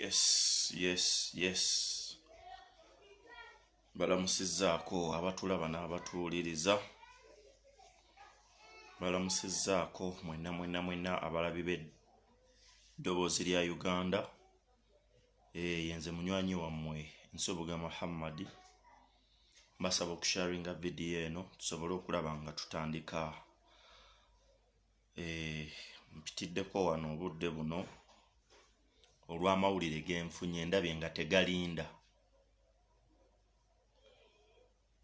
yes yes yes balamusizzaako abatulaba n'abatuwuliriza balamusizzaako mwena mwena mwena abalabi b'eddoboozi lya uganda eh, yenze munywanyi wammwe nsubuga muhammadi mbasaba okusharinga vidiyo eno tusobole okulaba nga tutandika Eh, mpitiddeko wano obudde buno olw'amawulire genfunye ndabye nga tegalinda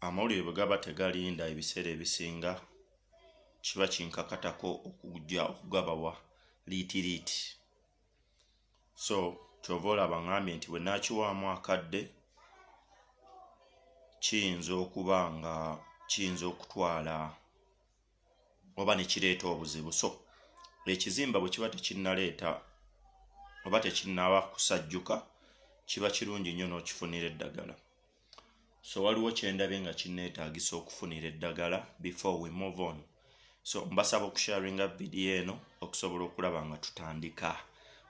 amawulire bwe gaba tegalinda ebiseera ebisinga kiba kinkakatako okujja okugabawa liitiriiti so kyova olaba ngambye nti bwe nakiwaamu akadde kiyinza okuba nga kiyinza okutwala oba ne kireeta obuzibu so ekizimba bwe kiba tekinnaleeta oba tekinnaba kusajjuka kiba kirungi nnyo n'okifunira eddagala so waliwo kyendabye nga kinneetaagisa okufunira eddagala before we move on so mbasaba okusharinga vidiyo eno okusobola okulaba nga tutandika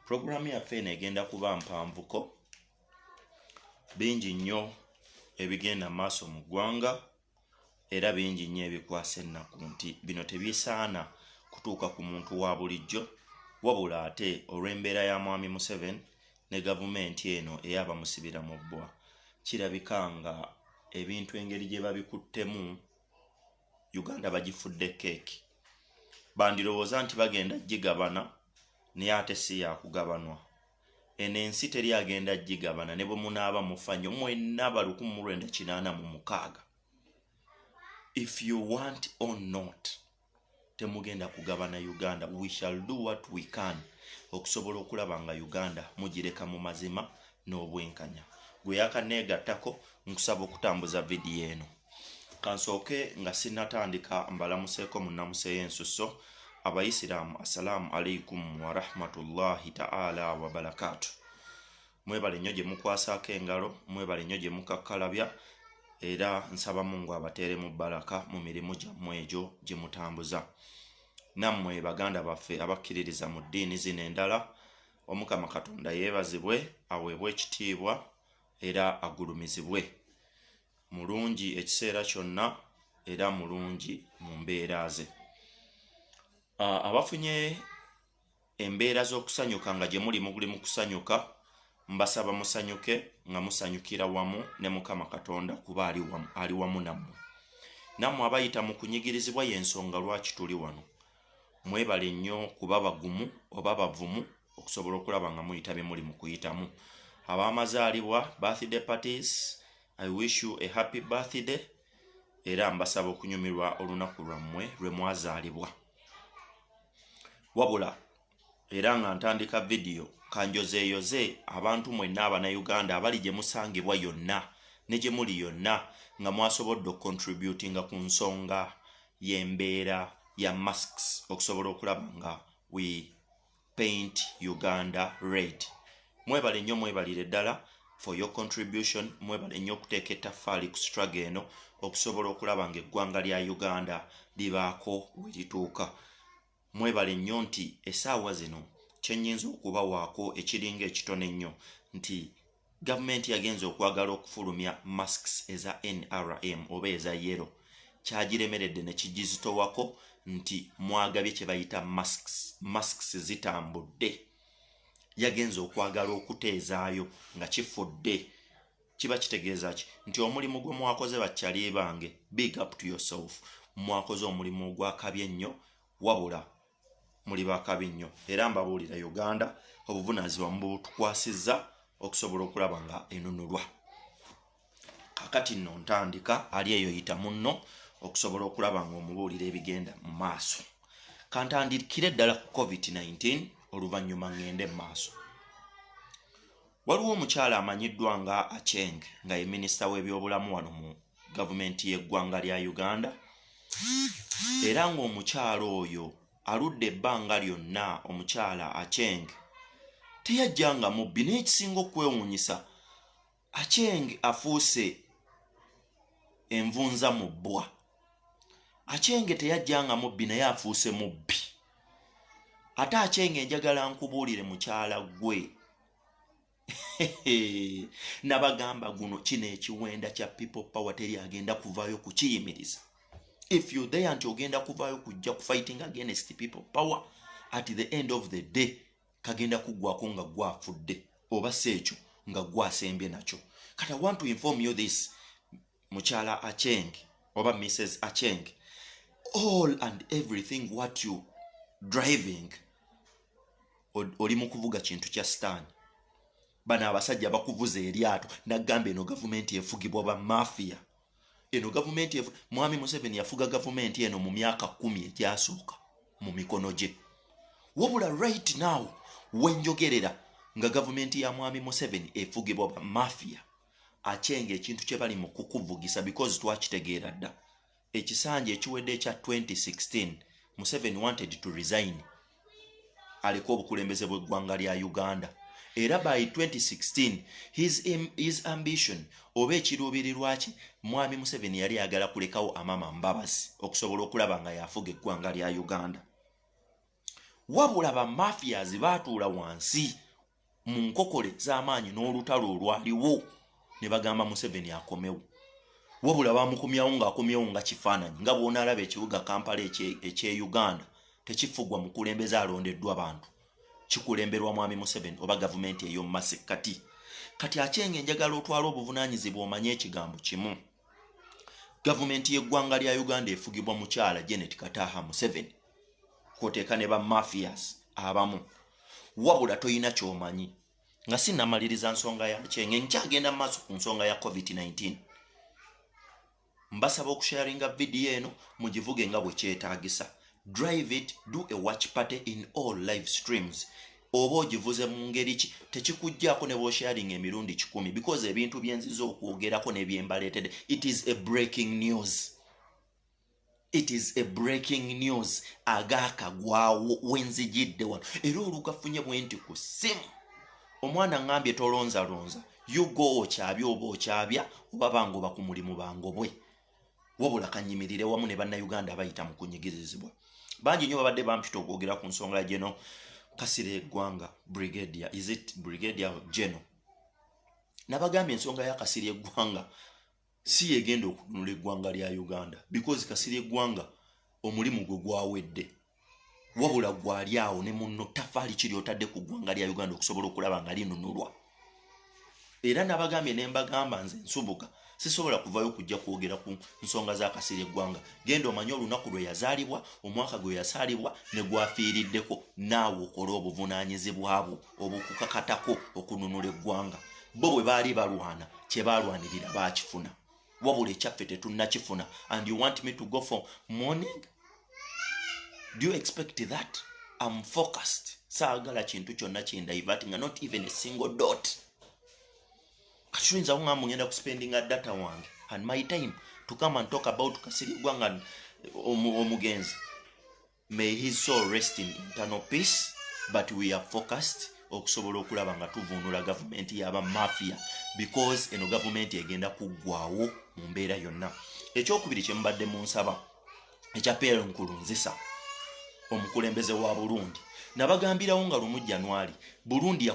puroguramu yaffe eno egenda kuba mpanvuko bingi nnyo ebigenda maaso mu ggwanga Era bingi nnyo ebikwasa ennaku nti bino tebisaana kutuuka ku muntu wa bulijjo wabula ate olw'embeera ya Mwami Museveni ne Gavumenti eno eya bamusibira mu bbwa kirabika nga ebintu engeri gye babikuttemu Uganda bagifudde keeki bandirowooza nti bagenda gigabana naye ate si yakugabanwa. eno ensi teri agenda gigabana ne bwe munaaba mufa nyo mwena ba lukumi mu lwenda kinaana mu mukaaga if you want or not temugenda kugabana uganda we shall do what we can okusobola okulaba nga uganda mugireka mu mazima n'obwenkanya gwe yakaneegattako nkusaba okutambuza vidiyo eno kansooke nga sinatandika mbalamuseeko mu nnamusa ey'ensusso abayisiraamu assalaamu alaikum warahmatullahi taala wabarakaatu mwebale nnyo gye mukwasaako engalo mwebale nnyo gye mukakkalabya era nsaba mungu abateere mu baraka mu mirimu gyammwe egyo gye mutambuza nammwe baganda baffe abakkiririza mu ddiini zino endala omukama katonda yeebazibwe aweebwe ekitiibwa era agulumizibwe mulungi ekiseera kyonna era mulungi mu mbeera ze abafunye embeera z'okusanyuka nga gye muli muguli mu kusanyuka mbasaba musanyuke nga musanyukira wamu ne mukama katonda kuba ali wamu nammwe nammwe abayita mu kunyigirizibwa y'ensonga lwaki tuli wano mwebale nnyo kuba bagumu oba bavumu okusobola okulaba nga muyita bye muli mu kuyitamu ab'amazaalibwa birthday parties i wish you a happy birthday era mbasaba okunyumirwa olunaku lwammwe lwe mwazaalibwa wabula era nga ntandika vidiyo kanjozeeyoze abantu mwenna abanayuganda abali gye musangibwa yonna ne gye muli yonna nga mwasobodde okucontributinga ku nsonga y'embeera ya masks okusobola okulaba nga we paint uganda red mwebale nnyo mwebalire ddala for your contribution mwebale nnyo okuteeka ettaffaali ku struggle eno okusobola okulaba nga eggwanga lya uganda libaako we lituuka Mwebale nnyo nti esaawa zino kyenyinza okubawaako ekiringa ekitono ennyo nti Gavumenti yagenze okwagala okufulumya masks eza NRM oba eza yellow kyagiremeredde nekigizitowako nti mwagabye kyebayita masks, masks zitambudde yagenze okwagala okuteezaayo nga kifudde. kiba kitegeeza ki nti omulimu gwe mwakoze bakyali bange big up to yourself mwakoze omulimu ogwakabi ennyo wabula muli bakabi nnyo era mbabuulira uganda obuvunaanyizibwa mubutukwasizza okusobola okulaba nga enunulwa kakati nno ntandika ali eyo yita munno okusobola okulaba nga omubuulira ebigenda mu maaso kantandikire ddala ku covid-19 oluvannyuma ngende mu maaso Waliwo omukyala amanyiddwa nga Acheng nga ye minisita w'ebyobulamu wano mu gavumenti y'eggwanga lya Uganda era ng'omukyala oyo aludde ebbanga lyonna omukyala Acheng teyajja nga mubbi naye ekisinga okwewuunyisa Acheng afuuse envunza mu bbwa Acheng teyajja nga mubbi naye afuuse mubbi ate Acheng enjagala nkubuulire mukyala gwe nabagamba guno kino ekiwenda kya people power teri agenda kuvayo kukiyimiriza if you there nti ogenda kuvayo kujja kufighting against people power at the end of the day kagenda kugwako nga gwafudde oba si ekyo nga gwasembye nakyo kati i want to inform you this mukyala acheng oba mrs acheng all and everything what you driving oli mu kuvuga kintu kya sitaani bano abasajja bakuvuza eryato nagamba eno gavumenti efugibwa ba mafia eno gavumenti mwami museveni yafuga gavumenti eno mu myaka kumi egyasooka mu mikono gye wabula right now wenjogerera nga gavumenti ya mwami museveni efugibwa ba mafia akyenga ekintu kye bali mu kukuvugisa because twakitegeera dda ekisanja ekiwedde ekya 2016 museveni wanted to resign aleka obukulembeze bw'eggwanga lya uganda era by 2016 his, his ambition oba ekiruubirirwa kye mwami museveni yali ayagala kulekawo amama mbabazi okusobola okulaba nga yafuga eggwanga lya uganda wabula bamafias baatuula wansi mu nkokole z'amaanyi n'olutalo olwaliwo ne bagamba museveni akomewo wabula bamukomyawo ng'akomyewo nga kifaananyi nga bw'onaalaba ekibuga kampala eky'e uganda tekifugwa mukulembeze alondeddwa bantu kikulemberwa mwami museveni oba gavumenti ey'omu masekkati kati akyenga enjagala otwala obuvunaanyizibwa omanye ekigambo kimu gavumenti y'eggwanga lya uganda efugibwa mukyala janet kataha museveni kwoteeka ne ba mafias abamu wabula tolina kyomanyi nga sinamaliriza nsonga yakyenge nkyagenda maaso ku nsonga ya covid-19 mbasaba okusharinga vidiyo eno mugivuge nga bwe kyetaagisa drive it do a watch party in all live streams oba ogivuze mu ngeri ki tekikuggyako ne bwosharinga emirundi kikumi because ebintu byenziza okwogerako nebyembaleetede it is a breaking news it is a breaking news agakagwawo wenzijidde wano era olugafunye bwenti ku simu omwana ngambye tolonzalonza yugo okyabya oba okyabya oba bange oba ku mulimu bangobwe wabula kanyimirire wamu ne bannayuganda abayita mu kunyigirizibwa bangi nyo babadde bampita okwogera ku nsonga ya geno kasire egwanga brigadia is it brigadia geno nabagambye ensonga ya kasire egwanga si yegenda okununula eggwanga lya uganda because kasiri eggwanga omulimu gwe gwawedde wabula gwali awo ne munno tafaali kiri otadde ku ggwanga lya uganda okusobola okulaba nga linunulwa era nabagambye nembagamba nze nsubuka sisobola kuvayo kujja kwogera ku nsonga za kasiri eggwanga genda omanye olunaku lwe yazaalibwa omwaka gwe yasaalibwa ne gwafiiriddeko naawe okola obuvunaanyizibwabwo obukukakatako okununula eggwanga bo bwe baali balwana kye baalwanirira baakifuna wabula ekyaffe tetunnakifuna and you want me to go for morning do you expect that am focused saagala kintu kyonna kindaivat nga not even a single dot katuyinza kuŋamba ngenda kuspendinga data wange and my time to come and talk about kasirigwa nga omugenzi May his soul rest in internal peace but we are focused okusobola okulaba nga tuvuunula gavumenti yaba mafia because eno gavumenti egenda kuggwawo mu mbeera yonna ekyokubiri kyemubadde mu nsaba ekya pl nkulunzisa omukulembeze wa burundi nabagambirawo nga lumu januari burundi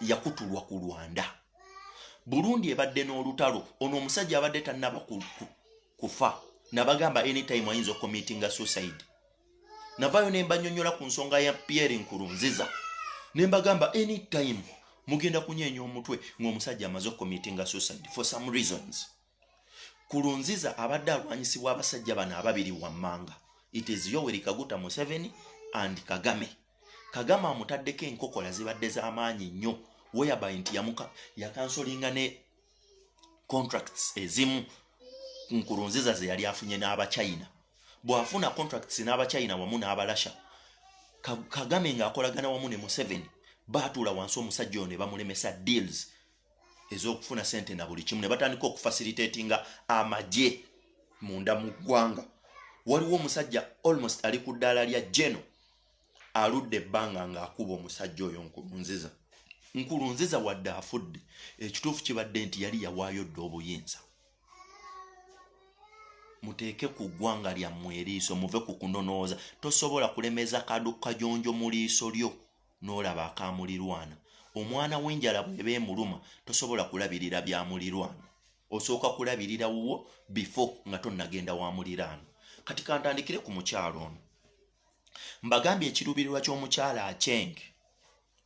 yakutulwa ku lwanda burundi ebadde n'olutalo ono omusajja abadde tannaba kufa nabagamba anytime ayinza okomitinga suicide navayo nembanyonyola ku nsonga ya pierre nkurunziza nembagamba anytime mugenda kunyenya omutwe ngaomusajja amaze okomitinga suicide for some reasons kurunziza abadde alwanyisibwa abasajja bano ababiri wammanga it is yoweri kaguta museveni and kagame kagame amutaddeko enkokola zibadde zamaanyi nnyo weyabay nti yakansolinga ne contracts ezimu nkurunziza ze yali afunye n'abachina bw'afuna contracts n'abachina wamu n'abalasha kagame ng'akolagana wamu ne museveni baatuula wansi omusajja oyo ne bamulemesa deals ez'okufuna sente na buli kimu ne batandika okufasilitatinga amagye munda mu ggwanga waliwo omusajja almost ali ku ddaala lya geno aludde ebbanga ng'akuba omusajja oyo nkulunziza nkulunziza wadde afudde ekituufu kibadde nti yali yawaayo dda obuyinza muteeke ku ggwanga lyammwe eriiso muve ku kunonooza tosobola kulemeza kadukajonjo mu liiso lyo n'olaba akamulirwana omwana w'enjala bweba emuluma tosobola kulabirira bya mulirwana osooka kulabirira wuwo bifo nga tonnagenda wa muliraano kati kantandikire ku mukyalo ono mbagambye ekiruubirirwa ky'omukyala acheng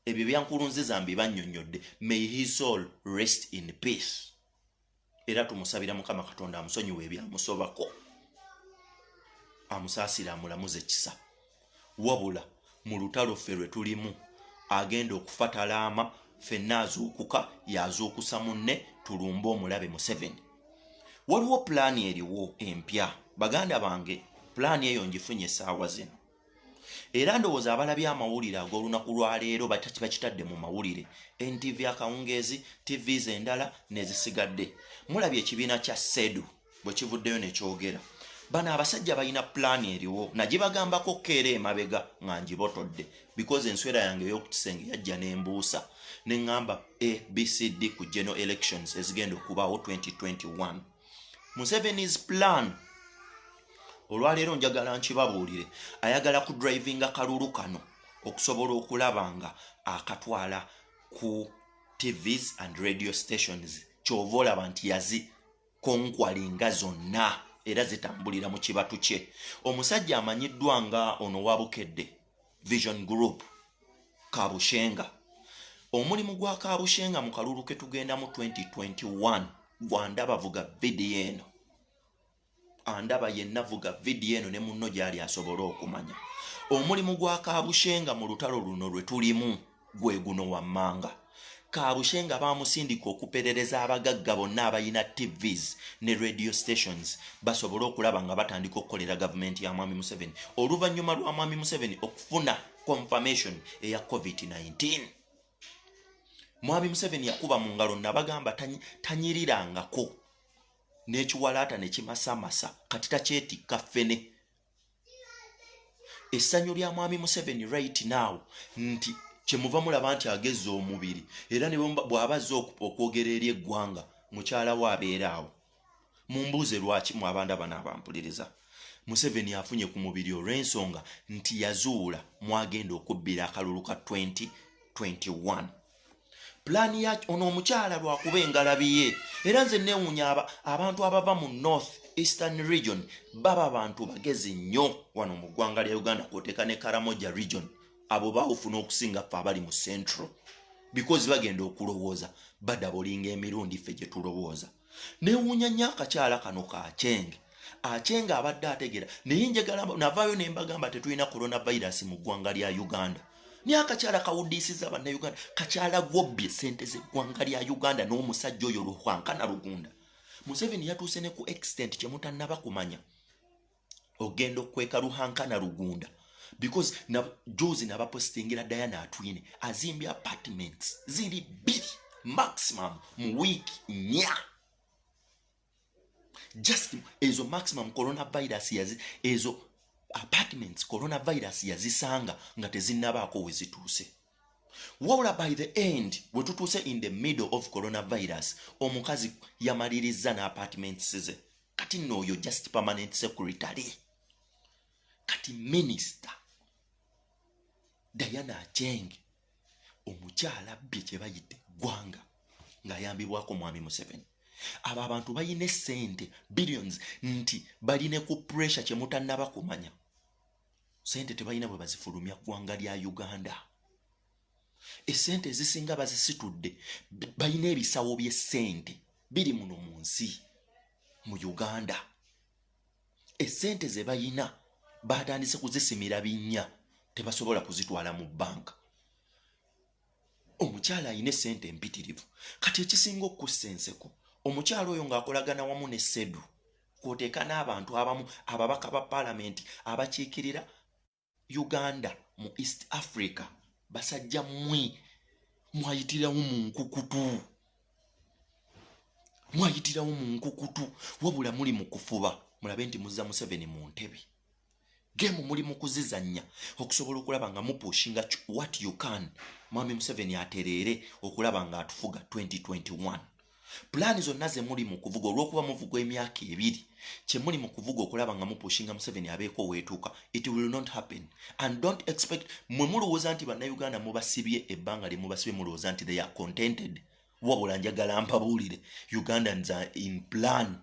ebyo byankulunziza mbibannyonnyodde may his soul rest in peace era tumusabira mukama katonda amusonyiwa ebyamusobako amusaasire amulamuze kisa wabula mu lutalo ffe lwe tulimu agenda okufa talaama fenna azuukuka yazuukusa munne tulumbe omulabe museveni waliwo pulaani eriwo empya baganda bange pulaani eyo ngifunye esaawa zino era ndowooza abalabye amawulire ag'olunaku lwaleero bakitadde mu mawulire ntv akawungeezi tvs endala nezisigadde mulabye ekibiina kya sedu bwe kivuddeyo nekyogera bano abasajja balina pulaani eriwo nagibagambako keera emabega nga ngibotodde because enswera yange eyokukisenge yajja nembuusa neŋŋamba abcd ku general elections ezigenda okubaawo 2021 musevenis plan olwaleero njagala nkibabuulire ayagala ku drivinga kalulu kano okusobola okulaba nga akatwala ku tvs and radio stations kyova olaba nti yazi konkwalinga zonna era zitambulira mu kibatu kye omusajja amanyiddwa nga ono wabukedde vision group kabushenga omulimu gwa kabushenga mu kalulu ke tugenda mu 2021 gwandaba vuga vidiyo eno andaba yenna vuga vidiyo eno ne munno gyali asobole okumanya omulimu gwa kabushenga mu lutalo luno lwe tulimu gwe guno wammanga kabushe nga bamusindika okuperereza abagagga bonna abalina tvs ne radio stations basobole okulaba nga batandika okukolera gavumenti ya mwami museveni oluvannyuma lwa mwami museveni okufuna confirmation eya covid-19 mwami museveni yakuba mu ngalo nabagamba tanyirirangako n'ekiwalaata nekimasamasa kati takyetikka ffene essanyu lya mwami museveni right now nti kyemuva mulaba nti agezza omubiri era ne bw'aba azze okwogera eri eggwanga mukyala we abeera awo mumbuuze lwaki mu abanda bano abampuliriza museveni afunye ku mubiri olw'ensonga nti yazuula mwagenda okubbira akalulu ka 2021 pulaani ya ono omukyala lwakuba engalabi ye era nze newunya abantu abava mu north eastern region baba bantu bagezi nnyo wano mu ggwanga lya uganda kwoteeka ne karamoja region abo bawufuna okusinga ffe abali mu central bikozi bagenda okulowooza badabolinga emirundi ffe gye tulowooza newuunya nnyo akakyala kano ka chenge achenga abadde ategera naye njagala navaayo ne mbagamba tetulina coronavirus mu ggwanga lya uganda naye akakyala kawudiisiza bannauganda kakyala gwobbye sente z'eggwanga lya uganda n'omusajja oyo luhwankana lugunda museveni yatuuse ne ku extent kye mutannaba kumanya ogenda okukweka luhanka na lugunda because na juzi nabapostingira diana atwine azimbye apartments ziri bbiri maximum mu week nya just ezo maximum coronavirus yazi ezo apartments coronavirus yazisanga nga tezinnabaako wezituuse wabula by the end wetutuuse in the middle of coronavirus omukazi yamalirizza n'apartments ze kati nno oyo just permanent secretary kati minisita diana acheng omukyala bbye kye bayita eggwanga ng'ayambibwako mwami museveni abo abantu balina esente billions nti baline ku pressure kye mutannaba kumanya sente tebalina bwe bazifulumya ggwanga lya uganda esente ezisinga bazisitudde balina ebisawo byesente biri muno mu nsi mu uganda esente zebalina batandise kuzisimira binnya tebasobola kuzitwala mu banka omukyala alina esente empitirivu kati ekisinga okukussa enseko omukyala oyo ng'akolagana wamu ne sedu kwoteeka n'abantu abamu ababaka ba palamenti abakiikirira uganda mu east africa basajja mwe mwayitirawo mu nkukutu mwayitirawo mu nkukutu wabula muli mu kufuba mulabe nti muzza museveni mu ntebe gemu muli mu kuzizannya okusobola okulaba nga mupushinga what you can mwami museveni atereere okulaba nga atufuga 2021 pulaani zonna ze muli mu kuvuga olw'okuba muvuga emyaka ebiri kye muli mu kuvuga okulaba nga mupushinga museveni abeeko oweetuuka it will not happen and don't expect mwe mulowooza nti bannayuganda mubasibye ebbanga lye mubasibye mulowooza nti they are contented wabula njagala mpabuulire ugandans are in plan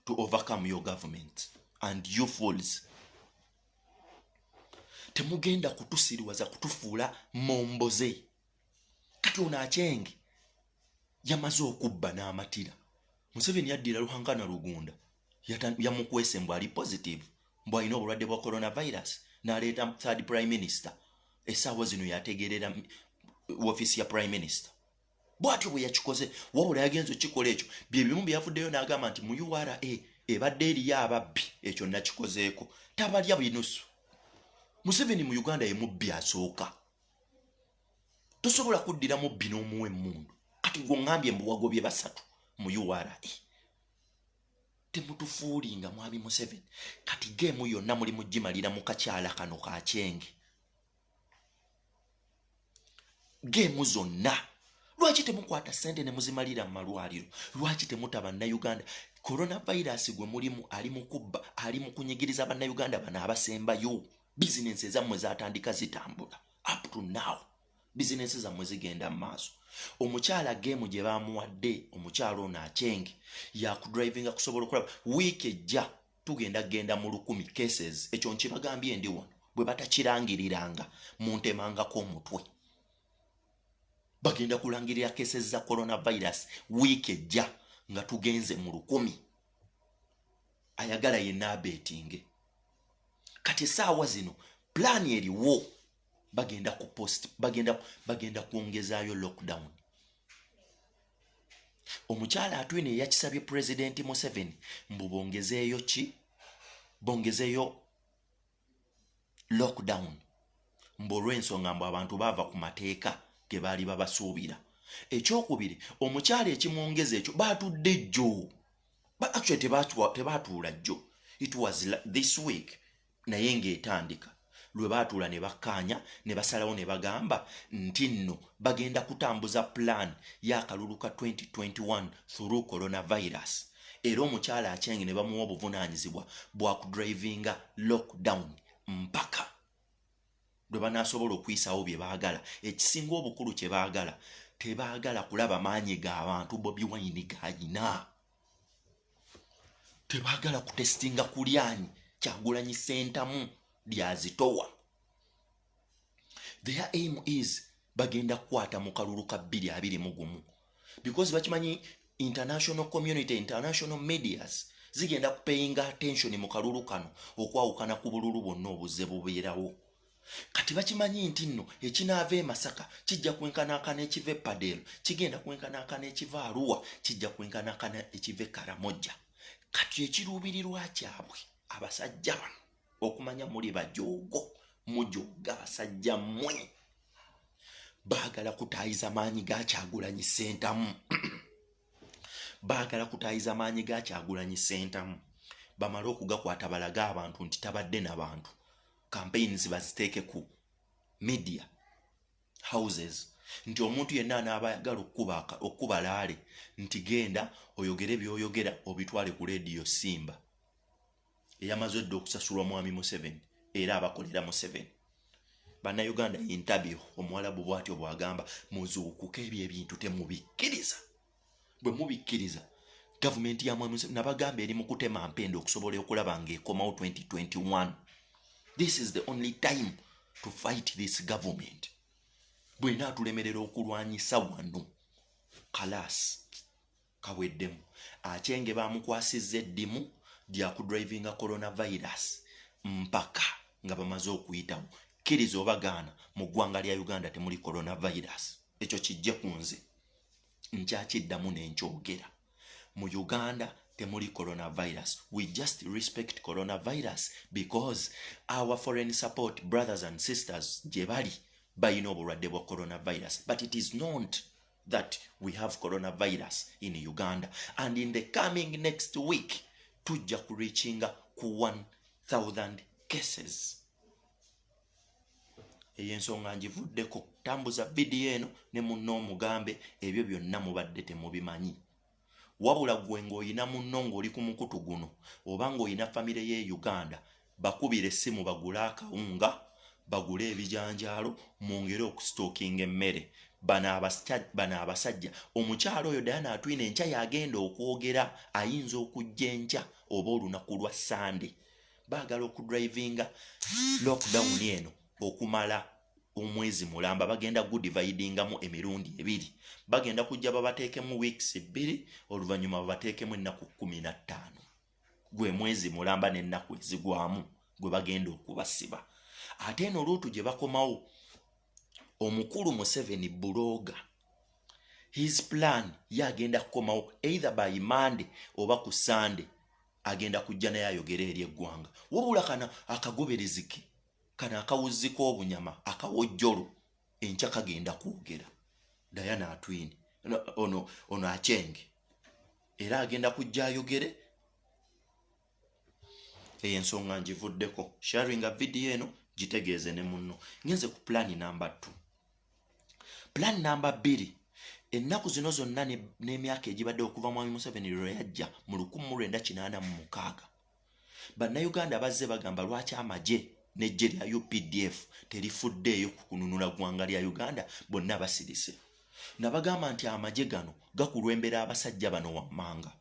to overcome your government and you fools temugenda kutusiriwaza kutufuula momboze kati ono akyenge yamaze okubba n'amatira museveni yaddira luhankana lugunda yamukwese mbu ali positive mbu alina obulwadde bwa coronavirus n'aleeta third prime minister esaawa zino yategerera wofiisi ya prime minister bwatyo bwe yakikoze wabula yagenza okikola ekyo byebimu byeyavuddeyo n'agamba nti mu ura ebadde eriyo ababbi ekyo nakikozeeko tabalya binusu museveni mu uganda yemubbi asooka tosobola kuddira mu bbi n'omuwa emmundu kati gwe ongambye mbu wagobye basatu mu ura temutufuulinga mwami museveni kati geemu yonna muli mugimalira mu kakyala kano ka kyenge geemu zonna lwaki temukwata sente ne muzimalira mu malwaliro lwaki temuta bannayuganda coronavirus gwe mulimu ali mukubba ali mukunyigiriza bannayuganda bano abasembayo bizinensi ezammwe zatandika zitambula up to now bizinensi zammwe zigenda mu maaso omukyala geemu gye baamuwadde omukyala ono akyenge yakudrivinga kusobola okulaba wiiki ejja tugenda kugenda mu lukumi cases ekyo nkibagambye ndi wano bwe batakirangiriranga muntemangako omutwe bagenda kulangirira cases za coronavirus wiiki ejja nga tugenze mu lukumi ayagala yenna abetinge kati esaawa zino pulaani eriwo bagenda ku post bagenda bagenda kwongezaayo lockdown omukyala atwine eyakisabye pulezidenti museveni mbu bongezeeyo ki bongezeeyo lockdown mbu olw'ensonga mbu abantu baava ku mateeka ge baali babasuubira ekyokubiri omukyalo ekimwongeza ekyo baatudde jjo baacwe tebaatuula jjo it was this week naye ng'etandika lwe baatuula ne bakkaanya ne basalawo ne bagamba nti nno bagenda kutambuza pulaani y'akalulu ka 2021 through coronavirus era omukyala akyenge ne bamuwa obuvunaanyizibwa bwa kudrivinga lockdown mpaka lwe banaasobola okuyisaawo bye baagala ekisinga obukulu kye baagala tebaagala kulaba maanyi ga bantu bobi wayini gayina tebaagala kutesitinga kulyanyi kyagulanyi sentamu lyazitowa their aim is bagenda kukwata mu kalulu ka bbiri abiri mu gumu because bakimanyi international community international medias zigenda kupeyinga attention mu kalulu kano okwawukana ku bululu bwonna obuzze bubeerawo kati bakimanyi nti nno ekinaava e masaka kijja kwenkanaakana ekiva epadeero kigenda kwenkanaakana ekiva aruwa kijja kwenkanaakana ekiva e karamojja kati ekiruubirirwa kyabwe abasajja bano okumanya muli bajoogo mujooga abasajja mmwe baagala kutaayiza maanyi gakyagulanyi sentamu baagala kutaayiza maanyi gakyagulanyi sentamu bamale okugakwata balage abantu nti tabadde nabantu campaigns baziteeke ku media houses nti omuntu yenna anaaba ayagala okukuba laale nti genda oyogere byoyogera obitwale ku leediyo simba eyamaze dda okusasulwa mwami museveni era abakolera museveni bannayuganda intabiu omuwalabu bwatyo bwagamba muzuukuka ebyo ebintu temubikkiriza bwe mubikkiriza gavumenti ya mwami museveni nabagamba eri mu kutema mpenda okusobola okulaba ngaekomawo 2021 this is the only time to fight this government bwena atulemerera okulwanyisa wano kalaasi Kaweddemu, Achenge baamukwasizza eddimu lya kudrivinga coronavirus mpaka nga bamaze okuyitamu. Kkiriza oba gaana, mu ggwanga lya Uganda temuli coronavirus. Ekyo kijje ku nze. Nkyakiddamu ne nkyogera. Mu Uganda temuli coronavirus. We just respect coronavirus because our foreign support brothers and sisters gye bali balina obulwadde bwa coronavirus but it is not. that we have coronavirus in Uganda and in the coming next week tujja ku reachinga ku 1000 cases eyo ensonga njivuddeko tambuza vidiyo eno ne munna omugambe ebyo byonna mubadde temubimanyi wabula gwe ng'olina munno ng'oli ku mukutu guno oba ng'olina famire y'e uganda bakubira essimu bagule akawunga bagule ebijanjaalo mwongere okusitookinga emmere bano abasajja omukyalo oyo dayana atwina enkya yagenda okwogera ayinza okujja enkya oba olunaku lwa sande baagala okudrivinga lockdown eno okumala omwezi mulamba bagenda gudividingamu emirundi ebiri bagenda kujja babateekemu weeks ebbiri oluvannyuma babateekemu ennaku kumi na ttaano gwe mwezi mulamba n'ennaku ezigwamu gwe bagenda okubasiba ate eno luutu gye bakomawo omukulu museveni bulooga his plan ye agenda kukomawo either by monday oba ku sunday agenda kujja naye ayogere eri eggwanga wabula kana akagoberezike kano akawuzzi k'obunyama akawojjolo enkya kagenda kwogera dayana atwini ono ono akyenge era agenda kujja ayogere eyo ensonga ngivuddeko sharinga vidiyo eno gitegeeze ne munno ngenze ku pulaani namba t pulaani namba bbiri ennaku zino zonna n'emyaka egibadde okuva mwami museveni lwe yajja mu lukumi mu lwenda kinaana mu mukaaga bannayuganda bazze bagamba lwaki amagye n'eggye lya updf terifuddeeyo ku kununula ggwanga lya uganda bonna basirise nabagamba nti amagye gano gakulwembera abasajja bano wammanga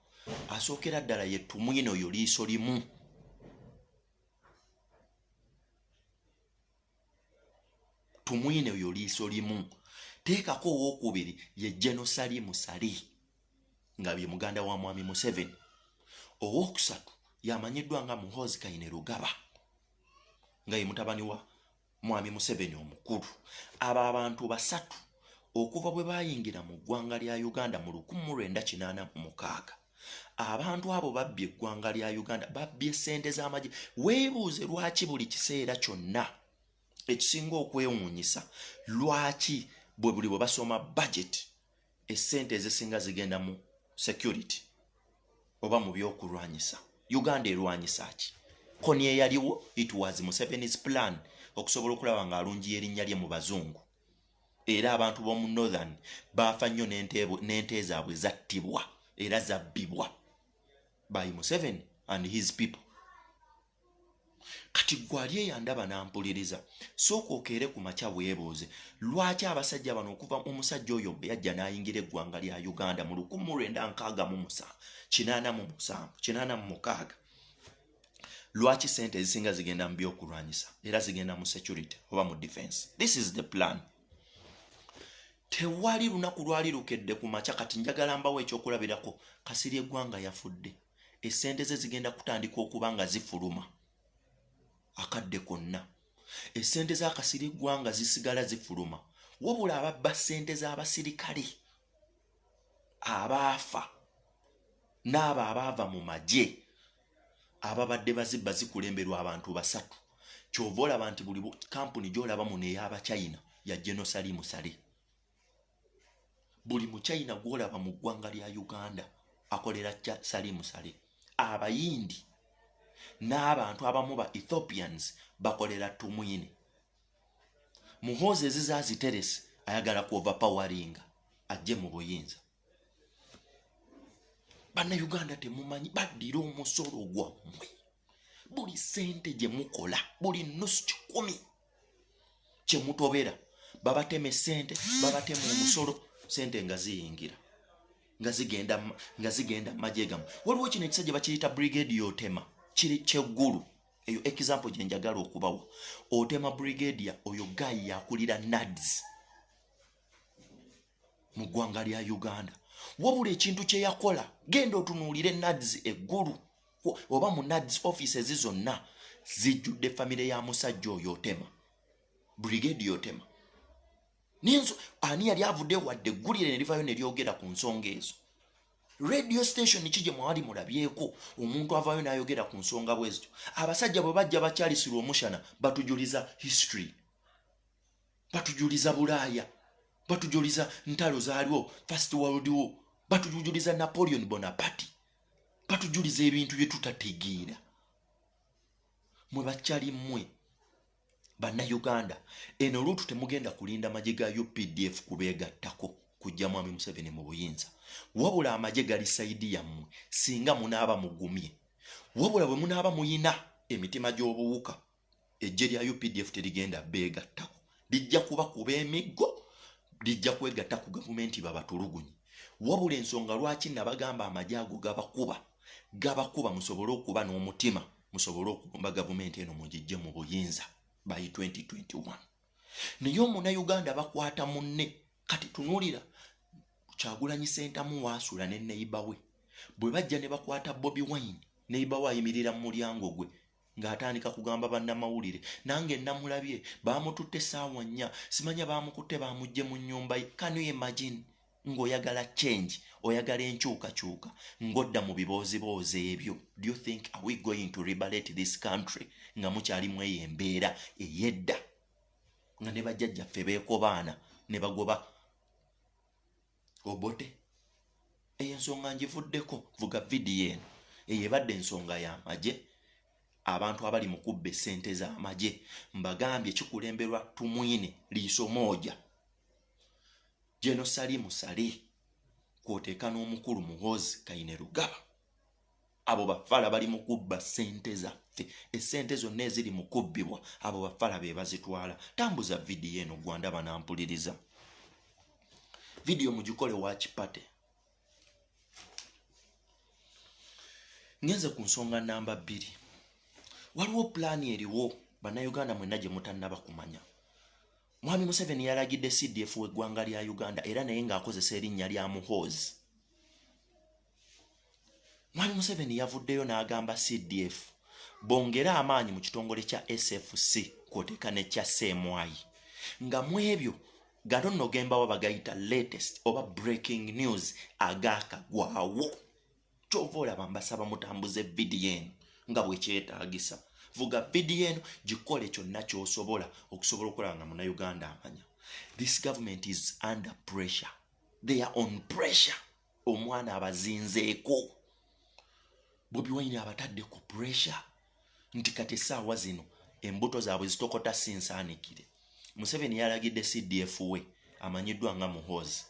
asookera ddala yetumwina oyo liiso limu tumwine oyo liiso limu teekako owokubiri ye genosali musali nga bye muganda wa mwami museveni owokusatu yamanyiddwa nga muhozi kaine lugaba nga ye mutabani wa mwami museveni omukulu abo abantu basatu okuva bwe bayingira mu ggwanga lya uganda mu 1986 abantu abo babbye eggwanga lya uganda babbye sente z'amagye weebuuze lwaki buli kiseera kyonna ekisinga okwewuunyisa lwaki bwe buli bwe basoma budget essente ezisinga zigenda mu security oba mu byokulwanyisa uganda erwanyisa ki koni eyaliwo it was musevenis plan okusobola okulaba ng'alungiya erinnya lye mu bazungu era abantu b'omu northern baafa nnyo n'ente zaabwe zattibwa era zabbibwa by museven and his people kati gwali eyandaba nampuliriza sooka okeere ku makya weebuuze lwaki abasajja bano okuva omusajja oyo bwe yajja n'ayingira eggwanga lya uganda mu lukumu lwenda nkaaga mu musa kinaana mu musanvu kinaana mu mukaaga lwaki sente ezisinga zigenda mu byokulwanyisa era zigenda mu security oba mu defense this is the plan tewali lunaku lwali lukedde ku makya kati njagala mbawo ekyokulabirako kasiri eggwanga yafudde esente ze zigenda kutandika okuba nga zifuluma akadde konna esente za kasiri eggwanga zisigala zifuluma wabula ababba sente z'abasirikale abaafa n'abo abaava mu magye ababadde bazibba zikulemberwa abantu basatu kyova olaba nti buli kampuni gyolaba muno eyabachina ya genosali musale buli muchina gwolaba mu ggwanga lya uganda akolera sali musale abayindi n'abantu abamu ba ethiopians bakolera tumwine muhoozi eziza aziteresi ayagala ku overpowaringa ajje mu buyinza bannayuganda temumanyi baddira omusolo gwammwe buli sente gye mukola buli nusu kikumi kye mutobera babatema esente babatema omusolo sente nga ziyingira nga zigenda nga zigenda majegamu waliwo kino ekisajja bakiyita brigade yotema kiri kyeggulu eyo example gye njagala okubawa otema brigadia oyo guy yakulira nads mu ggwanga lya uganda wabula ekintu kye yakola genda otunuulire nads eggulu oba mu nads offices zonna zijjudde famire ya musajja oyo otema brigadia otema ninzo ani yali avudde wadde eggulire ne livayo ne lyogera ku nsonga ezo radio station ki gye mwali mulabyeko omuntu avaayo n'ayogera ku nsonga bwezityo abasajja bwe bajja bakyalisirwa omushana batujuliza history batujuliza bulaaya batujuliza ntalo zaaliwo first world war batujuliza napoleon bonaparte batujuliza ebintu bye tutategeera mwe bakyali mmwe banna uganda eno luutu temugenda kulinda magye ga updf kubeegattako kujja mwami museveni mu buyinza wabula amagye gali saidi yammwe singa munaaba mugumye wabula bwe munaaba muyina emitima gy'obuwuka ejje lya updf terigenda beegattako lijja kuba kuba emiggo lijja kwegatta ku gavumenti babatulugunyi wabula ensonga lwaki nabagamba amagye ago gabakuba gabakuba musobole okuba n'omutima musobole okugomba gavumenti eno mugijje mu buyinza by 2021 naye omunauganda bakwata munne kati tunulira kyagulanyi sentamu waasula ne neiba we bwe bajja ne bakwata bobi wine neiba we ayimirira mu mulyango gwe ng'atandika kugamba bannamawulire nange namulabye baamututte saawa nnya simanya baamukutte baamugje mu nnyumba ye kanu imagine ng'oyagala change oyagala enkyukakyuka ng'odda mu bibooziboozi ebyo do you think are we going to liberate this country nga mukyalimu eyo embeera eyedda nga ne bajjajjaffe beekobaana ne bagoba obote eyo ensonga ngivuddeko vuga vidiyo eno eyo ebadde ensonga y'amagye abantu abali mu kubba essente z'amagye mbagambye kikulemberwa tumwine liiso mooja General Salimu Saleh kwoteeka n'omukulu Muhoozi Kainerugaba abo bafala bali mu kubba ssente zaffe essente zonna eziri mu kubbibwa abo bafala be bazitwala tambuza vidiyo eno gwanda banampuliriza vidiyo mugikole wakipate ngenze ku nsonga namba bbiri waliwo pulaani eriwo bannayuganda mwenna gye mutannaba kumanya Mwami Museveni yalagidde CDF w'eggwanga lya Uganda era naye ng'akozesa erinnya lya Muhoozi. Mwami Museveni yavuddeyo n'agamba CDF bongere amaanyi mu kitongole kya SFC kw'oteeka ne kya CMI nga mu ebyo gano nno gembawa bagayita latest oba breaking news agaakagwawo. kyova olaba mbasaba mutambuze vidiyo eno nga bwekyetagisa vuga vidiyo eno gikole kyonna kyosobola okusobola okulaba nga munauganda amanya this government is under pressure they are on pressure omwana abazinzeeko bobi wine abatadde ku pressure nti kati essaawa zino embuto zaabwe zitokota si nsaanikire museveni yalagidde cdf we amanyiddwa nga muhoozi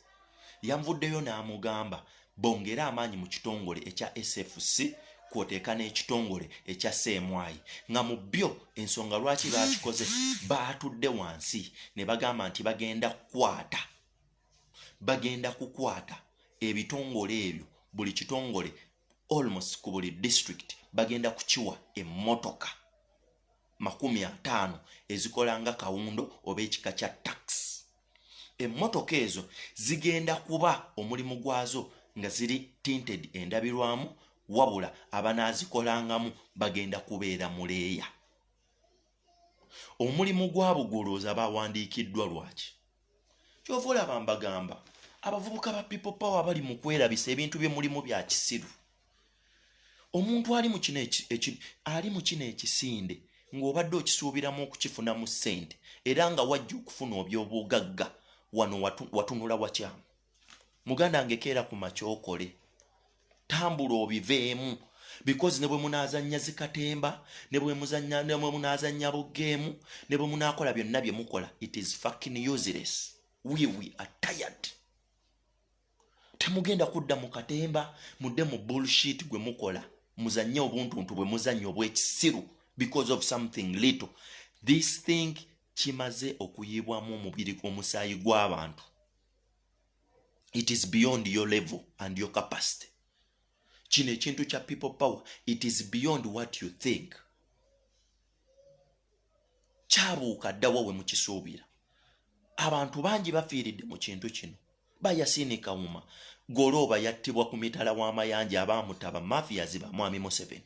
yanvuddeyo n'amugamba bongere amaanyi mu kitongole ekya sfc kwoteeka n'ekitongole ekya seemwayi nga mu byo ensonga lwaki baakikoze baatudde wansi ne bagamba nti bagenda kukwata bagenda kukwata ebitongole ebyo buli kitongole almost ku buli district bagenda kukiwa emmotoka makumi ataano ezikola nga kawundo oba ekika kya tax emmotoka ezo zigenda kuba omulimu gwazo nga ziri tinted endabirwamu wabula abanaazikolangamu bagenda kubeera muleeya omulimu gwa bugolooza bawandiikiddwa lwaki kyova olaba mbagamba abavubuka ba people power bali mu kwerabisa ebintu bye mulimu bya kisiru omuntu ali mu kino ali mu kino ekisinde ng'obadde okisuubiramu okukifunamu ssente era nga wajja okufuna obyobugagga wano watunula wakyamu muganda ngekeera ku makyokole tambula obiveemu because ne bwe munaazannya zikatemba ne bwe munaazannya bugeemu ne bwe munaakola byonna bye mukola it is fucking useless we we are tired temugenda kudda mu katemba mudde mu bullshit gwe mukola muzannye obuntuntu bwe muzannye obw'ekisiru because of something little this thing kimaze okuyiibwamu omubiri omusaayi gw'abantu it is beyond your level and your capacity kino ekintu kya people power it is beyond what you think kyabuuka ddawa we mukisuubira abantu bangi bafiiridde mu kintu kino bayasiini kawuma golooba yattibwa ku mitala w'amayanja abaamutaba mafiyazi ba mwami museveni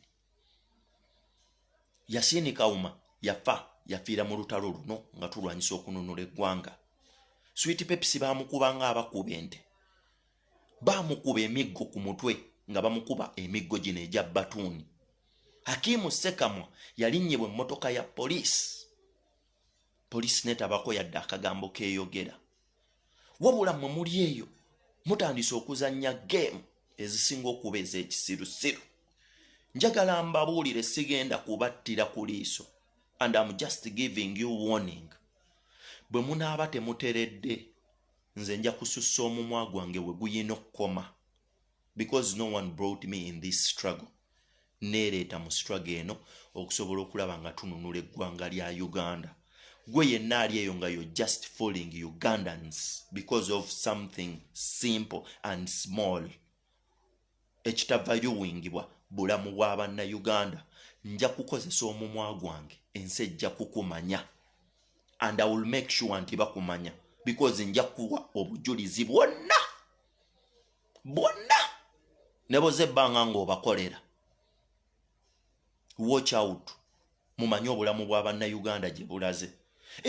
yasini kawuma yafa yafiira mu lutalo luno nga tulwanyisa okununula eggwanga switi pepisi bamukuba nga abakuba ente bamukuba emiggo ku mutwe nga bamukuba emiggo gino egya batuuni hakimu sekamwa yalinnyebwa emmotoka ya poliisi poliisi netabako yadde akagambo keyogera wabula mwe muli eyo mutandise okuzanya game ezisinga okuba ezekisirusiru njagala mbabuulire sigenda kubattira ku liiso and am just giving you warning bwe munaaba temuteredde nze nja kusussa omumwa gwange we guyina okukoma because no one brought me in this struggle neereeta mu struggle eno okusobola okulaba nga tununula eggwanga lya uganda gwe yenna ali eyo nga yo just falling ugandans because of something simple and small ekitava yuwingibwa bulamu bwa banna uganda nja kukozesa omumwa gwange ensi ejja kukumanya and i will make sure nti bakumanya because nja kuwa obujulizi bwonna bonna neboza ebbanga ng'obakolera watch out mumanye obulamu bwa bannayuganda gye bulaze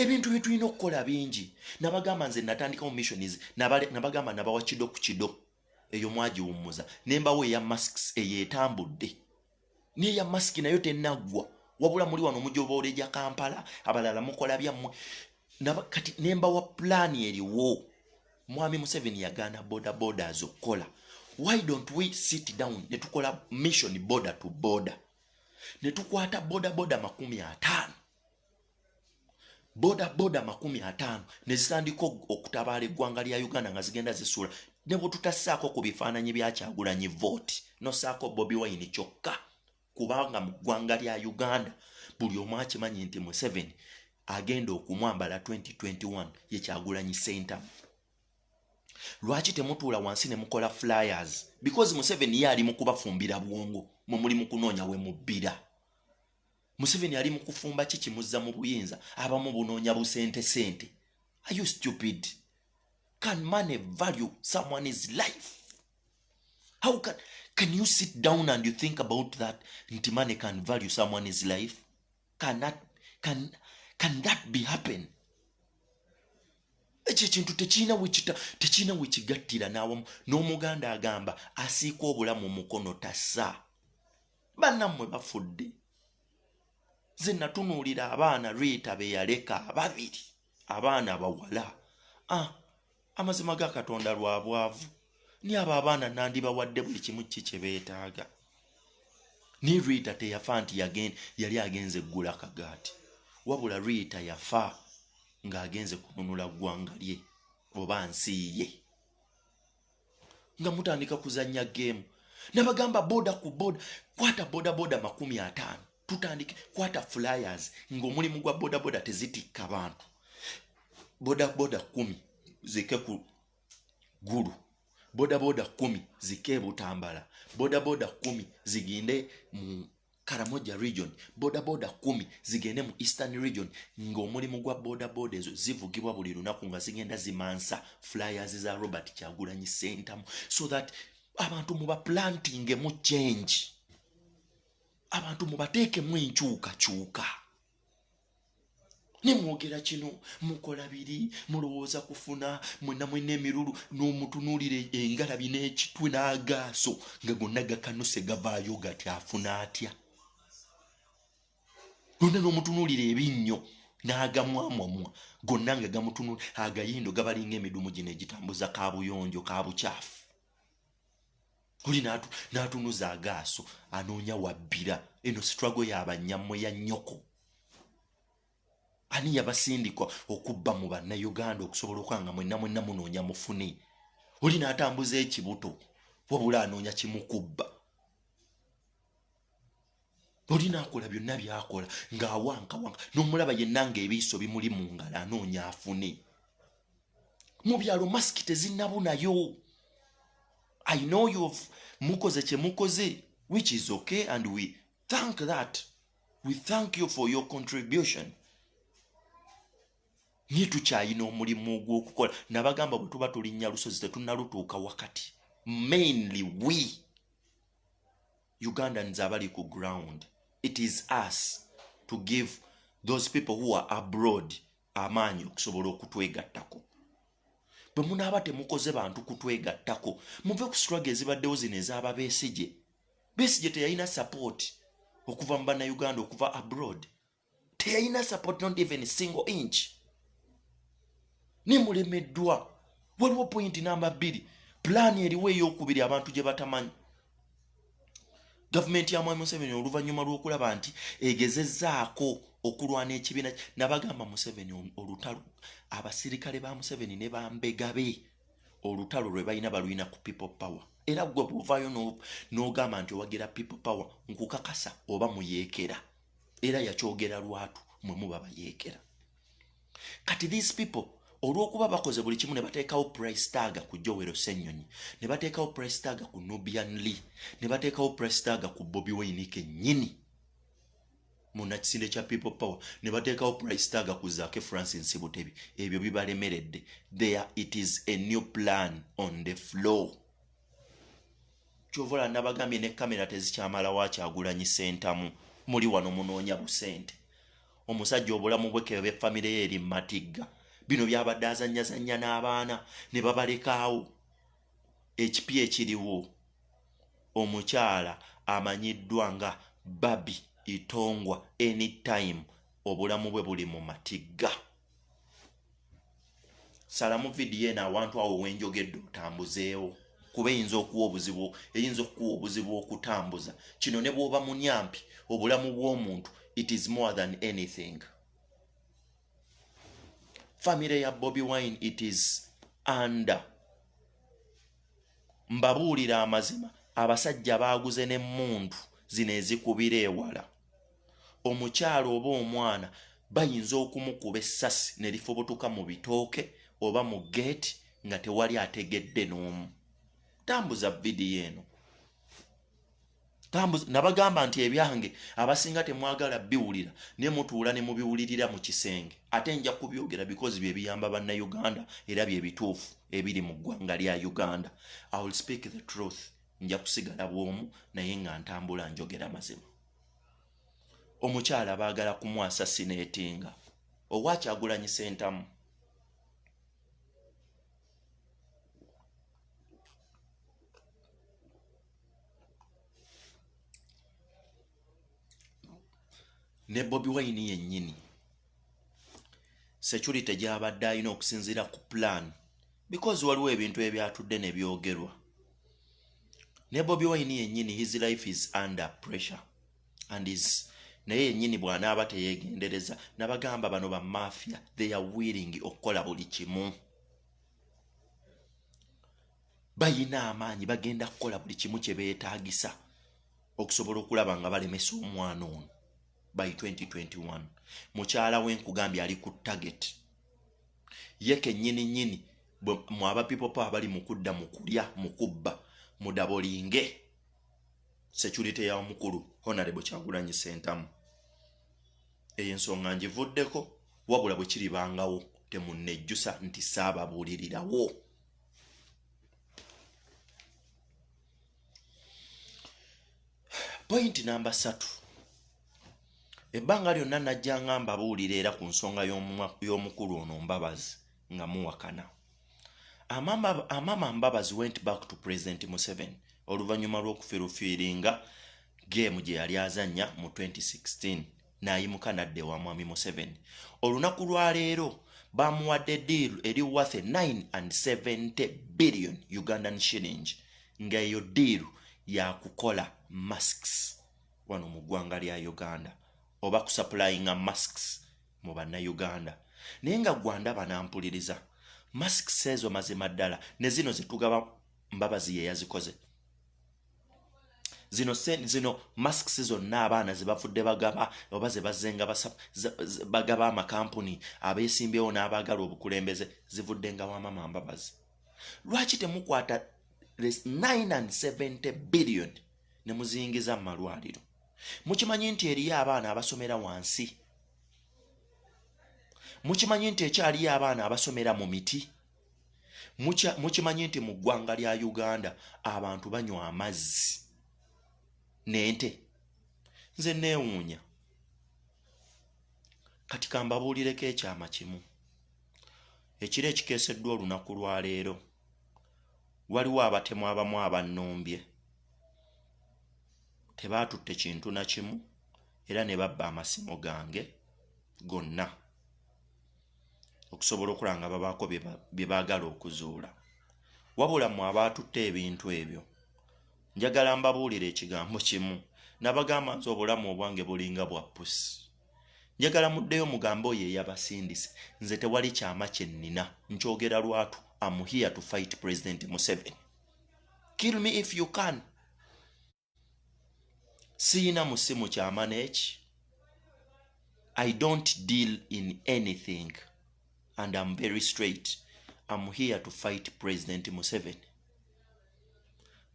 ebintu bye tulina okukola bingi nabagamba nze natandikawo missions nabagamba nabawa kido ku kido eyo mwagiwummuza ne mbawo eya masks eyo etambudde neya masiki nayo tenaggwa wabula muli wano mujoboola egya kampala abalala mukola byammwe kati nembawa pulaani eriwo mwami museveni yagaana boda boda azokukola why don't we sit down netukola mission boda to boda netukwata boda boda makumi ataano boda boda makumi ataano nezitandika okutabaala eggwanga lya uganda nga zigenda zisuula ne bwetutassaako ku bifaananyi byakyagulanyi vote nosaako bobi wayini kyokka kubanga mu ggwanga lya uganda buli omu akimanyi nti museveni agenda okumwambala 2021 ye kyagulanyi center lwaki temutuula wansi ne mukola flyers because museveni ye ali mu kubafumbira bwongo mwe muli mu kunoonya we mubbira museveni ali mukufumba ki kimuzza mu buyinza abamu bunoonya busente sente are you stupid can money value someone is life how can, can you sit down and you think about that nti money can value someone is life can that, can, can that be happen ekyo ekintu tekirina wekita tekirina wekigattira n'awamu n'omuganda agamba asiika obulamu mukono tasa bannammwe bafudde ze natunuulira abaana riita be yaleka ababiri abaana abawala ah, amazima ga katonda lwa bwavu ni abo abaana nandibawadde buli kimu ki kye beetaaga ni riita teyafa nti yali agenze eggula kagaati wabula riita yafa ng'agenze kununula ggwanga lye oba nsi ye nga mutandika kuzanya gemu nabagamba boda ku boda kwata bodaboda makumi ataano tutandike kwata flyers ngaomulimu gwa bodaboda tezitikka bantu bodaboda kumi zike ku gulu bodaboda kumi zike ebutambala bodaboda kumi ziginde mu karamoja region bodaboda kumi zigende mu eastern region ng'omulimu gwa bodaboda ezo zivugibwa buli lunaku nga zigenda zimansa flyers za robert kyagulanyi sentamu so that abantu mubaplantingemu change abantu mubateekemu enkyukakyuka ne mwogera kino mukola biri mulowooza kufuna mwena mwena emirulu n'omutunuulira engalabi n'ekitwe n'agaaso nga gonna gakanuse gavaayo gati afuna atya gonna n'omutunuulira ebinnyo n'agamwamwamwa gonna nga gamutunula agayendo gabalinga emidumu gino egitambuza kabuyonjo kabukyafu oli n'atunuza agaaso anoonya wabbira eno sitwago yabanyammwe ya nnyoko ani yabasindikwa okubba mu bannayuganda okusobola okwanga mwenna mwenna munoonya mufune oli n'atambuza ekibuto wabula anoonya kimukubba oli nakola byonna byakola ng'awankawanka n'omulaba yenna ng'ebiiso bimuli mu ngalo anoonya afune mu byalo masiki tezinabunayo i know you have mukoze kye mukoze which is okay and we thank that we thank you for your contribution naye tukyayina omulimu ogw'okukola nabagamba bwe tuba tulinnya lusozi tetunalutuuka wakati mainly we ugandans abali ku ground it is us to give those people who are abroad amaanyi okusobola okutwegattako bwe munaaba temukoze bantu kutwegattako muve ku sitwaga ezibaddewo zino ezaaba besigye besigye teyalina sapooti okuva mu bannayuganda okuva abroad teyalina support not even single inch nemulemeddwa waliwo pointi namba bbiri pulaani eriwo eyokubiri abantu gye batamanyi gavumenti ya mwami museveni oluvannyuma lw'okulaba nti egezezaako okulwana ekibiina nabagamba museveni olutalo abasirikale ba museveni ne bambegabe olutalo lwe balina balwina ku people power era gwe bwovaayo n'ogamba nti owagira people power nkukakasa oba muyeekera era yakyogera lwatu mwe muba bayeekera kati these people olwokuba bakoze buli kimu ne bateekawo price taga ku jowero senyonyi ne bateekawo price taga ku nubian lee ne bateekawo price taga ku bobi wayini kenyini munakisinde kya people power ne bateekawo price taga ku zake francis butebi ebyo bibalemeredde there it is a new plan on the floor kyovola nabagambye ne kamera tezikyamalawo akyagulanyi sentamu muli wano munoonya busente omusajja obulamu bwekebe famire ye eri matigga bino byabadde azanyazanya n'abaana ne babalekaawo ekipi ekiriwo omukyala amanyiddwa nga babi itongwa anytime obulamu bwe buli mu matigga salamu vidiyo eno awantu awo wenjogedde otambuzeewo kuba eyinza okuwa obuzibu eyinza okukuwa obuzibu okutambuza kino ne bwoba munyampi obulamu bw'omuntu it is more than anything famire ya bobi wine it is under mbabuulira amazima abasajja baaguze n'emmundu zino ezikubira ewala omukyala oba omwana bayinza okumukuba essasi ne lifubutuka mu bitooke oba mu geeti nga tewali ategedde n'omu tambuza vidiyo eno tambuza nabagamba nti ebyange abasinga temwagala biwulira ne mutuula ne mubiwulirira mu kisenge ate nja kubyogera bikozi bye biyamba bannayuganda era bye bituufu ebiri mu ggwanga lya uganda i will speak the truth nja kusigala bwomu naye nga ntambula njogera mazima omukyala baagala kumwasa sineetinga owakyagulanyi sentamu ne bobi wayini yennyini security gyabadde alina okusinziira ku plan because waliwo ebintu ebyatudde ne byogerwa ne bobi wine yennyini his life is under pressure and is naye yennyini bw'anaaba teyeegendereza nabagamba bano ba mafia they are willing okukola buli kimu bayina amaanyi bagenda kukola buli kimu kye beetaagisa okusobola okulaba nga balemesa omwana ono by 2021 mukyala we nkugambye ali ku target ye kenyini nyini mwaba people power bali mukudda mukulya mukubba mudabolinge security ya omukulu honorable kyagulanyi sentamu eyo ensonga ngivuddeko wabula bwe kiribangawo temunejjusa nti saababuulirirawo pointi namba satu ebbanga lyonna najja nga mbabuulira era ku nsonga y'omukulu ono mbabazi nga muwakana amama mbabazi went back to president museven oluvannyuma lw'okufirufiiringa geemu gye yali azannya mu 2016 n'ayimuka n'adda ewa mwami museveni olunaku lwa leero bamuwadde deal eri worth 970 billion ugandan shilling nga eyo deal yakukola masks wano mu ggwanga lya uganda oba kusapulayinga masks mu bannayuganda naye nga gwanda banampuliriza masks ezo mazima ddala ne zino zetugaba mbabazi ye yazikoze zino zino masks zonna abaana zebavudde bagaba oba zebazenga bagaba amakampuni abesimbyewo n'abaagala obukulembeze zivudde nga wamama mbabazi lwaki temukwata 970 billion ne muzingiza mu malwaliro mukimanyi nti eriyo abaana abasomera wansi mukimanyi nti ekyaliyo abaana abasomera mu miti mukimanyi nti mu ggwanga lya uganda abantu banywa amazzi nente nze neewuunya kati kambabuulireko ekyama kimu ekiro ekikeeseddwa olunaku lwa leero waliwo abatemu abamu abannumbye tebaatutte kintu na kimu era ne babba amasimu gange gonna okusobola okulaba nga babaako bye baagala okuzuula wabula mwe abaatutte ebintu ebyo njagala mbabuulira ekigambo kimu nabagamba nti obulamu obwange bulinga bwa pusi njagala muddeyo mugambe oyo eyabasindise nze tewali kyama kye nnina nkyogera lwatu am here to fight president museveni kill me if you can siyina musimu kyamana eki i don't deal in anything and am very straight am here to fight president museven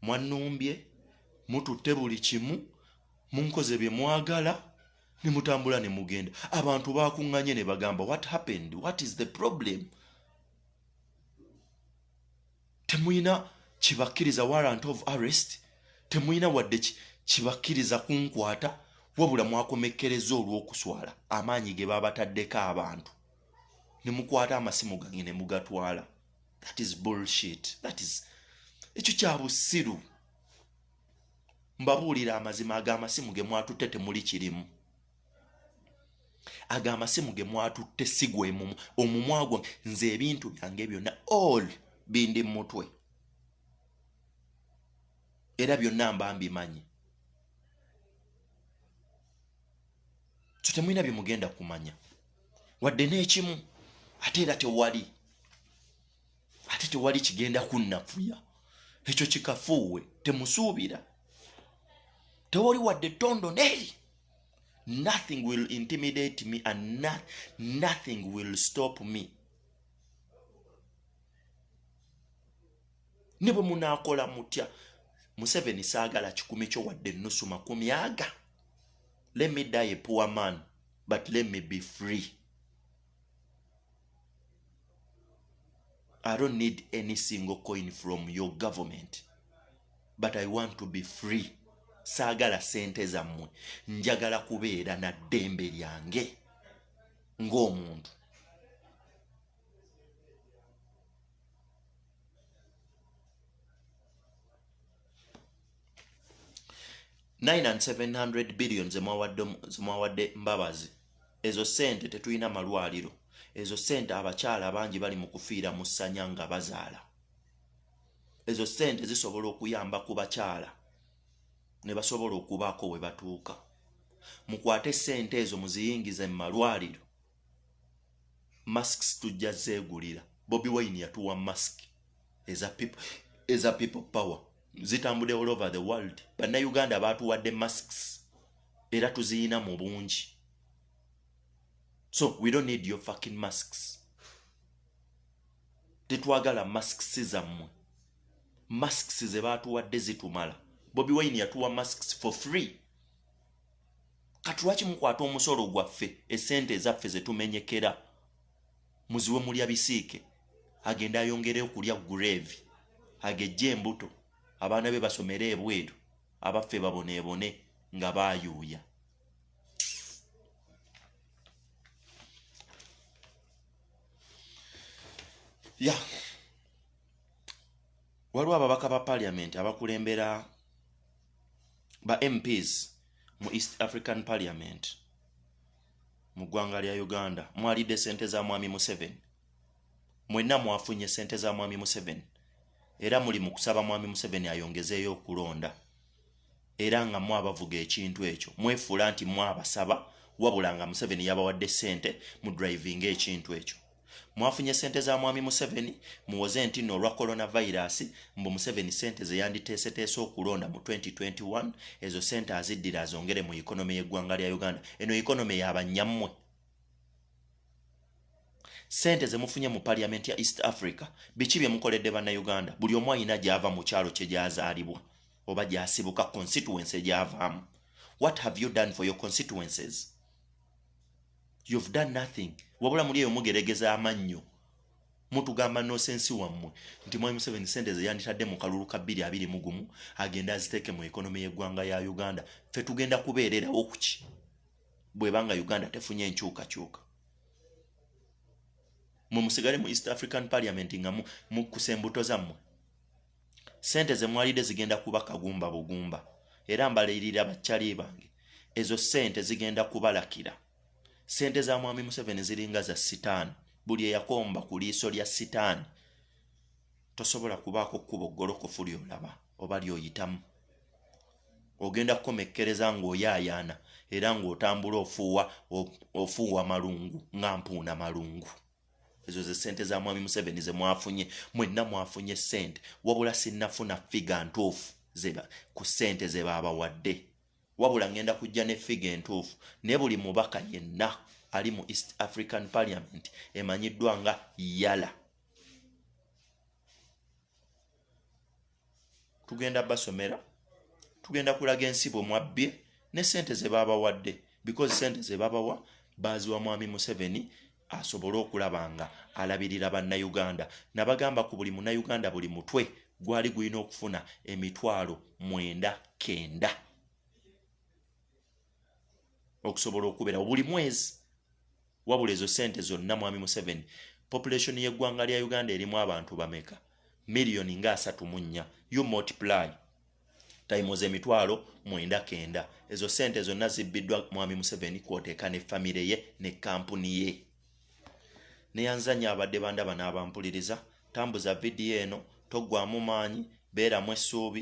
mwannumbye mututte buli kimu munkoze bye mwagala ne mutambula ne mugenda abantu bakuŋŋanye ne bagamba what happened what is the problem temuyina kibakkiriza warrant of arrest temuyina wadde kibakkiriza kunkwata wabula mwakomekkereza olw'okuswala amaanyi ge baabataddeko abantu ne mukwata amasimu gange ne mugatwala that is bullshit that is ekyo kya busiru mbabuulira amazima ag'amasimu ge mwatutte temuli kirimu ago amasimu ge mwatutte sigwe mumu omumwa gwa nze ebintu byange byonna all bindi mumutwe era byonna mba mbimanyi so temulina byemugenda kumanya wadde n'ekimu ate era tewali ate tewali kigenda kunnafuya ekyo kikafuuwe temusuubira tewali wadde tondo neri nothing will intimidate me and no, nothing will stop me ne bwe munaakola mutya museveni saagala kikumi kyo wadde ennusu makumi aga let me die a poor man but let me be free I don't need any single coin from your government but I want to be free saagala sente zammwe njagala kubeera na ddembe lyange ng'omuntu 9 and 700 billion zemwawadde mbabazi ezo sente tetulina malwaliro ezo sente abakyala bangi bali mu kufiira mu ssanya nga bazaala ezo sente zisobola okuyamba ku bakyala ne basobola okubaako we batuuka mukwate sente ezo muziyingize mu malwaliro masks tujja zegulira bobi wine yatuwa mask eza people eza people power zitambude all over the world banna uganda batuwadde masks era tuziyina mu bungi so we don't need your fucking masks tetwagala masks zammwe masks ze batuwadde zitumala bobi wine yatuwa masks for free kati lwaki mukwata omusolo gwaffe esente ezaffe zetumenyekera muziwe mulya bisiike agenda ayongere okulya grave agejja embuto abaana be basomere ebweru abaffe baboneebone nga bayuuya ya yeah. waliwo ababaka ba paliamenti abakulembera ba mps mu east african parliament mu ggwanga lya uganda mwalidde sente za mwami museven mwenna mwafunye sente za mwami museven era muli mu kusaba mwami museven ayongezeeyo okulonda era nga mwabavuga ekintu ekyo mwefuula nti mwabasaba wabula nga museveni yabawadde ssente mu drivinga ekintu ekyo mwafunye sente za mwami museveni muwoze nti no olwa coronavirus mbu museveni sente zeyanditeeseteese okulonda mu 2021 ezo sente aziddira azongere mu economy y'eggwanga lya uganda eno economy yabanyammwe sente zemufunye mu parliament ya east africa biki bye mukoledde bannauganda buli omu alina gyava mu kyalo kye gyazaalibwa oba gyasibuka constituency gyavaamu what have you done for your constituencies you've done nothing wabula muli eyo mugeregeza amannyo mutugamba nosensi wammwe nti mwami museveni sente zeyanditadde mu kalulu ka bbiri abiri mu gumu agenda aziteeke mu ekonomi y'eggwanga ya uganda ffe tugenda kubeererawo ku ki bwebanga uganda tefunye enkyukakyuka mwe musigale mu east african parliament nga mukusa embuto zammwe sente ze mwalidde zigenda kuba kagumba bugumba era mbalirira bakyali bange ezo sente zigenda kubalakira sente za mwami museveni ziringa za sitaani buli eyakomba ku liiso lya sitaani tosobola kubaako kkubo ggolokofu lyolaba oba lyoyitamu ogenda kukomekkereza ng'oyaayaana era ng'otambula ofuuwa ofuuwa malungu nga mpuuna malungu ezo ze sente za mwami museveni ze mwafunye mwenna mwafunye sente wabula sinnafuna figa ntuufu zeba ku sente ze baabawadde wabula ŋŋenda kujja ne figa entuufu ne buli mubaka yenna ali mu east african parliament emanyiddwa nga yala tugenda basomera tugenda kulaga ensi bwe mwabbye ne sente ze baabawadde because sente ze babawa baaziwa mwami museveni asobole okulaba nga alabirira bannayuganda nabagamba ku buli munayuganda buli mutwe gwali gulina okufuna emitwalo mwenda kenda okusobola okuberawo buli mwezi wabula ezo sente zonna mwami museveni population yeggwanga lya uganda erimu abantu bameka miliyoni nga asatu mu nnya you multiply tayimu z'emitwalo mwenda kenda ezo sente zonna zibbiddwa mwami museveni kwoteeka ne famire ye ne kampuni ye neyanzanya abadde bandaba n'abampuliriza tambuza vidiyo eno toggwamu maanyi beeramu essuubi